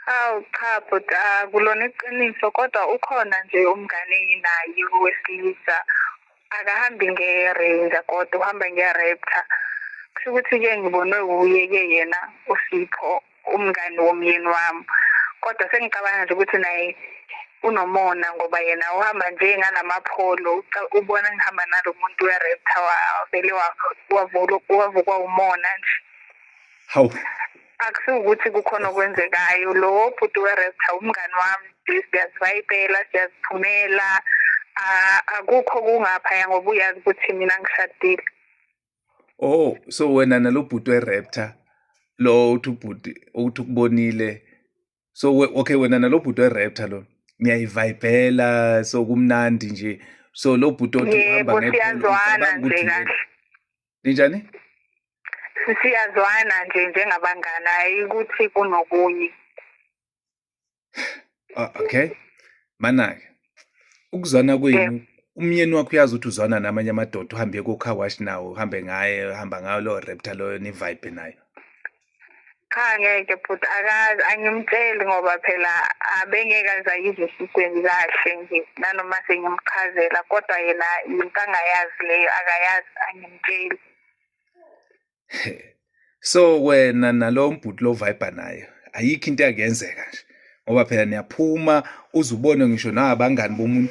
Hawu cha bhuti akulona iqiniso kodwa ukhona nje umngane enginayo wesilisa akahambi nge-range kodwa uhamba nge-raptor kusho ukuthi-ke ngibonwe wuye-ke yena usipho umngani womyeni wami kodwa sengicabanga nje ukuthi naye unomona ngoba yena uhamba nje ngalamapholo ubona ngihamba nalo muntu we-raptor wavele wavukwa umona nje hawu akusiwukuthi kukhona okwenzekayo lowo bhuti weresta umngani wami siyazivayibela siyaziphumela akukho kungaphaya ngoba uyazi ukuthi mina ngishadile oh so wena nalo bhuti weraptor lo uthi ubhuti ukuthi ukubonile so okay wena nalo bhuti weraptor lo niyayivayibhela so kumnandi nje so lo bhuti othi uhamba ngephela nje kahle ninjani siyazwana nje njengabangani hayi ukuthi kunokunye ah, okay manake ukuzwana kwenu umyeni wakho uyazi ukuthi uzwana namanye amadoda uhambe kocar wash nawo uhambe ngaye uhamba ngayo lowo repta loyo nivibe nayo cha ngeke bhuti akazi angimtsheli ngoba phela abengeke aze ayizwe esikweni kahle nje nanoma sengimchazela kodwa yena yinto angayazi leyo akayazi angimtsheli so wena nalo mbhuti lo vibe nayo ayikho into yakuyenzeka nje ngoba phela niyaphuma uzubone ngisho nabangani bomuntu